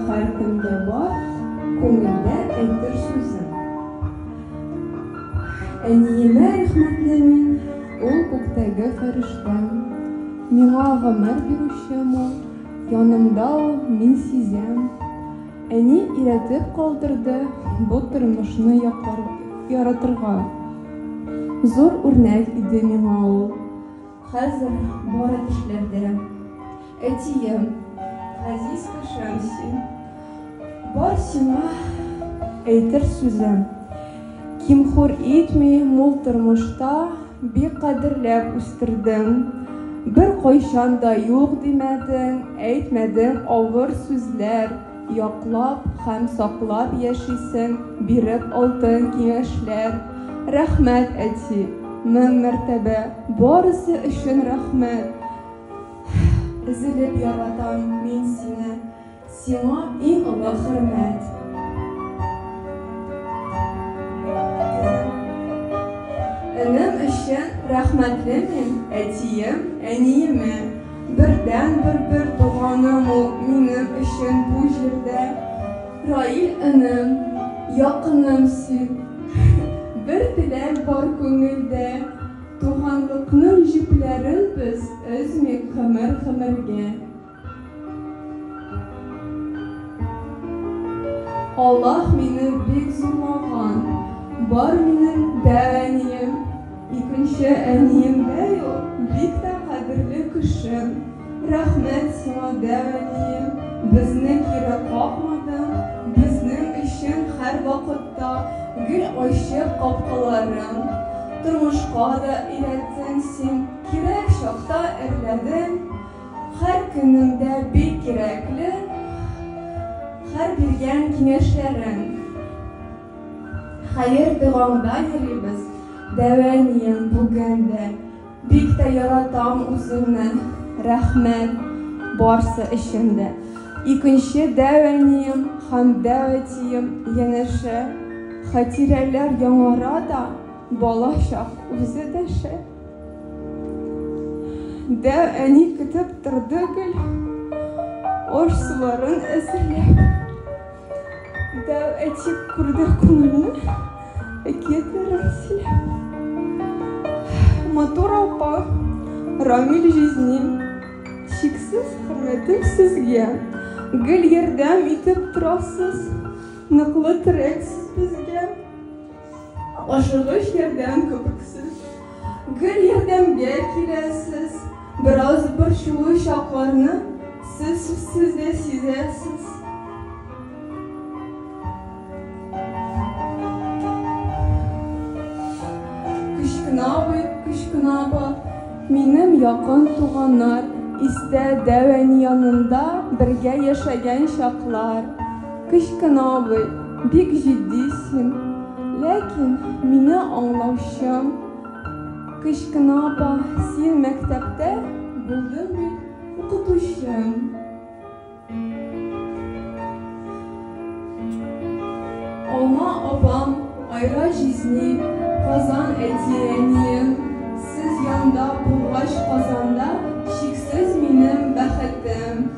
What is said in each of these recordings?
Һәркемдә бар күңелдә әйтер сүзе. Әниемә рәхмәтле мин. Ул күктәге фәрештәм. Миңа гомер бирүчем ул. Янымда ул, мин сизәм. Әни өйрәтеп калдырды бу тормышны яратырга. Зур үрнәк иде миңа ул. Хәзер бары төшләрдә. Әтием, газиз кешем син, бар сиңа әйтер сүзем, Ким-хур итми, мул тормышта бик кадерләп үстердең, беркайчан да юк димәдең, әйтмәдең авыр сүзләр. Яклап һәм саклап яшисең, биреп алтын киңәшләр. Рәхмәт, әти! Мең мәртәбә барысы өчен рәхмәт! Өзелеп яратам мин сине, сиңа иң олы хөрмәт! Энем өчен рәхмәтле мин әтием, әниемә. Бердәнбер бер туганым ул минем өчен бу җирдә. Раил энем, якыным син. Бер теләк бар күңелдә. Туганлыкның җепләрен без өзмик гомер-гомергә. Аллаһ мине бик зурлаган. Бар минем дә әнием. Икенче әнием дә юк, бик тә кадерле кешем. Рәхмәт сиңа, дә әнием, безне кире какмадың, безнең өчен һәрвакытта гел ачык капкаларың. Тормышка да өйрәттең син, кирәк чакта эрләдең. Һәр көнемдә бик кирәкле һәр биргән киңәшләрең. Хәер догаңда йөрибез дәвәнием бүген дә Бик тә яратам үзеңне Рәхмәт барсы өчен дә Икенче дәвәнием һәм дәвәтием янәшә Хатирәләр яңара да бала чак үзе дәшә Дәү әни көтеп торды гел Ош суларын әзерләп. Дәү әйтеп күрде күңелне, әкиятләрен сөйләп. Матур апа, Рамил җизнин, чиксез хөрмәтем сезгә. Гел ярдәм итеп торасыз, ныклы терәксез безгә. Ашыгыч ярдәм кебексез. Гел ярдәмгә киләсез. Бераз борчулы чакларны сез сүзсез дә сизәсез. Кечкенә абый, кечкенә апа, минем якын туганнар, истә дәү әни янында бергә яшәгән чаклар. Кычкына абый, бик җитди син. Ләкин мине аңлаучым. Кычкына апа, син мәктәптә булдың бит укытучым. Алма апам, Айра җизни, Казан әти-әнием, сез янда булгач Казанда чиксез минем бәхетем.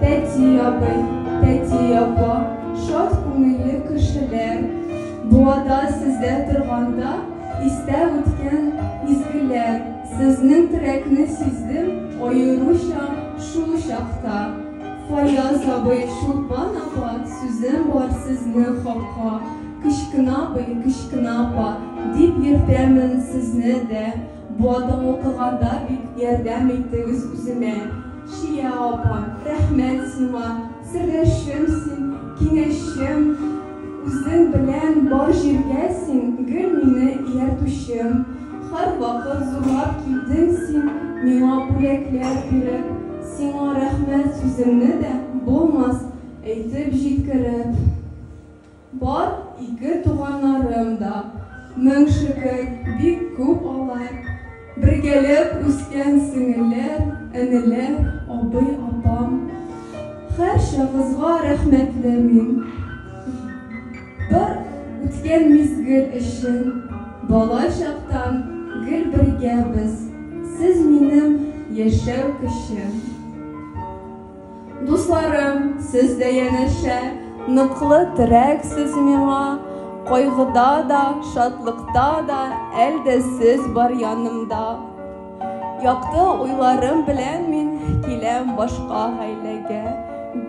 Тәти абый, тәти апа, шат күңелле кешеләр, Буада сездә торганда истә үткән изгеләр, Сезнең терәкне сиздем аеруча шул чакта. Фаяз абый, Чулпан апа, сүзем бар сезнең хакка, Кечкенә абый, кечкенә апа, дип йөртәмен сезне дә. Бу атың укыганда бик ярдәм иттегез үземә. Шия апа, рәхмәт сиңа, сердәшем син, киңәшчем, үзең белән бар җиргә син гел мине ияртүчем. Һәрвакыт зурлап килдең син миңа бүләкләр биреп, сиңа рәхмәт сүземне дә булмас әйтеп җиткереп. Бар, ике туганнарым да. Мең шөкер, бик күп алар. Бергәләп үскән сеңелләр, энеләр, абый, апам. Һәрчагызга рәхмәтле мин. Бар үткән мизгел өчен. Бала чактан гел бергә без. Сез минем яшәү көчем. Дусларым, сез дә янәшә. Ныклы терәк сез миңа. Кайгыда да, шатлыкта да, Әл дә сез бар янымда. Якты уйларым белән мин Киләм башка гаиләгә.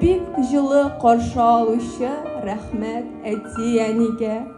Бик җылы каршы алучы, Рәхмәт әти-әнигә.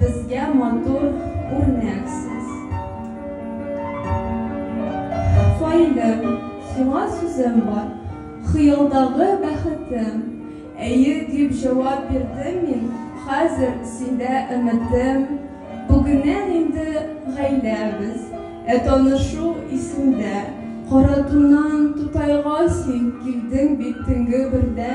Безгә матур үрнәксез. Фаилем, сиңа сүзем бар. Хыялдагы бәхетем. Әйе, дип җавап бирдем мин, хәзер синдә өметем. Бүгеннән инде гаиләбез. Ә танышу исемдә. Каратуннан Тутайга син килдең бит төнге бердә.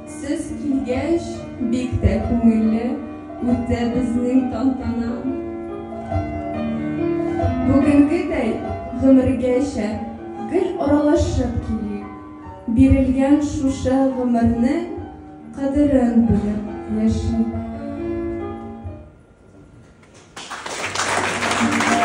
Сез килгәч, бик тә күңелле үтте безнең тантана. Бүгенгедәй гомергәчә гел аралашып килик, бирелгән шушы гомернең кадерен белеп яшик.